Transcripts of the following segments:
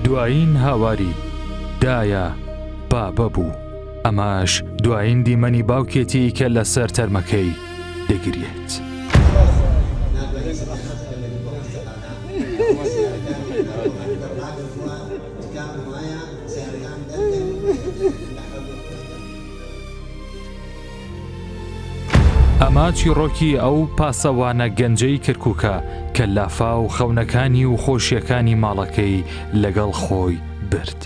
دوایین هاواری، دایە، بابە بوو، ئەمەش دوایین دیمەنی باوکێتی کە لەسەر تەرمەکەی دەگریێت. ئەمە چیڕۆکی ئەو پاسەوانە گەنجەی کەرکووکە کە لافاو خەونەکانی و خۆشیەکانی ماڵەکەی لەگەڵ خۆی برد.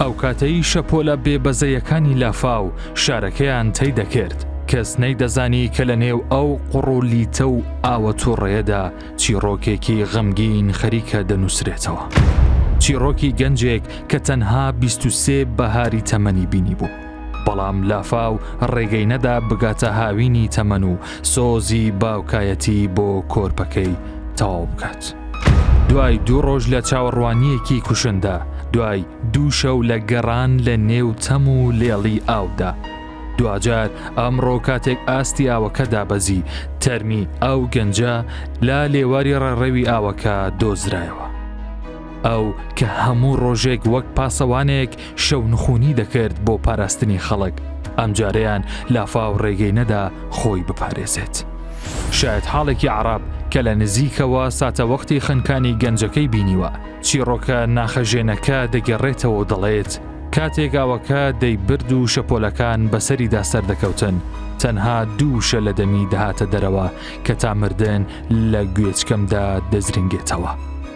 ئەو کاتەی شەپۆلە بێبەزەیەکانی لافاو شارەکەیان تەی دەکرد، کەس نەیدەزانی کە لە نێو ئەو قوڕ و لیتە و ئاوە توڕەیەدا چیڕۆکێکی غەمگین خەریکە دەنووسرێتەوە. چیڕۆکی گەنجێک کە تەنها بیست و سێ بەهاری تەمەنی بینیبوو. بەڵام لافاو ڕێگەی نەدا بگاتە هاوینی تەمەن و سۆزی باوکایەتی بۆ کۆرپەکەی تەواو بکات. دوای دوو ڕۆژ لە چاوەڕوانیەکی کوشندا دوای دوو شەو لە گەڕان لە نێو تەم و لێڵی ئاودا دواجار ئەمڕۆ کاتێک ئاستی ئاوەکە دابەزی تەرمی ئەو گەنجە لا لێواری ڕێڕەوی ئاوەکە دۆزرایەوە ئەو کە هەموو ڕۆژێک وەک پاسەوانێک شەو نخونی دەکرد بۆ پاراستنی خەڵک ئەمجارەیان لافاو ڕێگەی نەدا خۆی بپارێزێت. شاید حاڵێکی عراب کە لە نزیکەوە ساتەوەختی خنکانی گەنجەکەی بینیوە چیڕۆکە ناخەژێنەکە دەگەڕێتەوە دەڵێت کاتێک ئاوەکە دەیبرد و شەپۆلەکان بەسەریدا سەردەکەوتن تەنها دووشە لە دەمی دەهاتە دەرەوە کە تا مردن لە گوێچکەمدا دەزرنگێتەوە.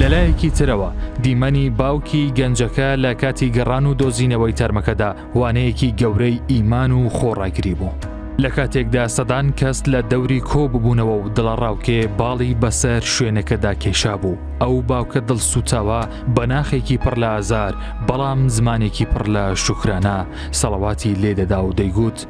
لەلایەکی ترەوە دیمەنی باوکی گەنجەکە لە کاتی گەڕان و دۆزینەوەی تەرمەکەدا وانەیەکی گەورەی ئیمان و خۆڕاگری بوو. لە کاتێکدا سەدان کەس لە دەوری کۆ ببوونەوە و دڵەڕاوکێ باڵی بەسەر شوێنەکەدا کێشا بوو ئەو باوکە دڵسووتاوە بە ناخێکی پڕ لە ئازار بەڵام زمانێکی پڕ لە شوکرانە سەڵەواتی لێدەدا و دەیگوت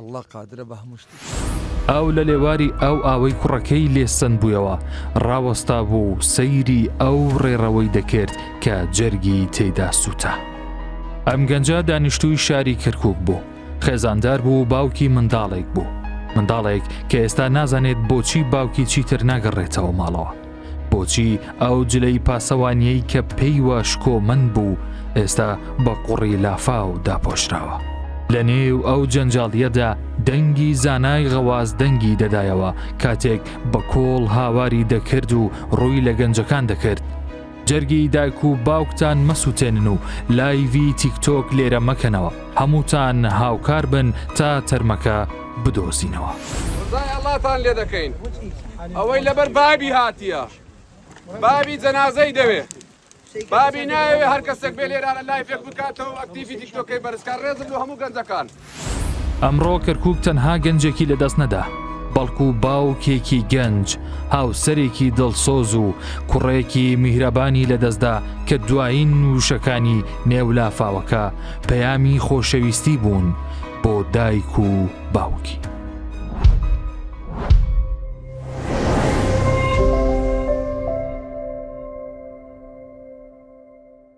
اللە قادرە بە هەموو شتێک. ئاو لە لێواری ئاو ئاوەی کوڕەکەی لێ سەند بوویەوە، ڕاوەستابوو و سەیری ئەو ڕێڕەوەی دەکرد کە جەرگی تێدا سووتا. ئەم گەنجە دانیشتووی شاری کەرکووک بوو، خێزاندار بوو و باوکی منداڵێک بوو، منداڵێک کە ئێستا نازانێت بۆچی باوکی چیتر ناگەڕێتەوە ماڵەوە. بۆچی ئەو جلەی پاسەوانیەی کە پێیوە شکۆمەند بوو ئێستا بە قوڕی لافاو داپۆشراوە لە نێو ئەو جەنجاڵیەدا دەنگی زانای غەواز دەنگی دەدایەوە کاتێک بە کۆڵ هاواری دەکرد و ڕووی لە گەنجەکان دەکرد جەرگی دایک و باوکتان مەسووتێنن و لایڤی تیکتۆک لێرە مەکەنەوە هەمووتان هاوکار بن تا تەرمەکە بدۆزینەوە. ڕزای ئەڵاتان لێ دەکەین ئەوەی لەبەر بابی هاتیە بابی جەنازەی دەوێ بابی ناوێ هەر کەسێک بێ لێرانە لای فێک بکاتەوە ئەکتیفی تیکتۆکەی بەرزکار ڕێزم بۆ هەموو گەنجەکان. ئەمڕۆ کەرکوک تەنها گەنجێکی لەدەست نەدا، بەڵکو باوکێکی گەنج، هاوسەرێکی دڵسۆز و کوڕێکی میهرەبانی لەدەستدا کە دوایین وشەکانی نێو لافاوەکە پەیامی خۆشەویستی بوون، بۆ دایک و باوکی.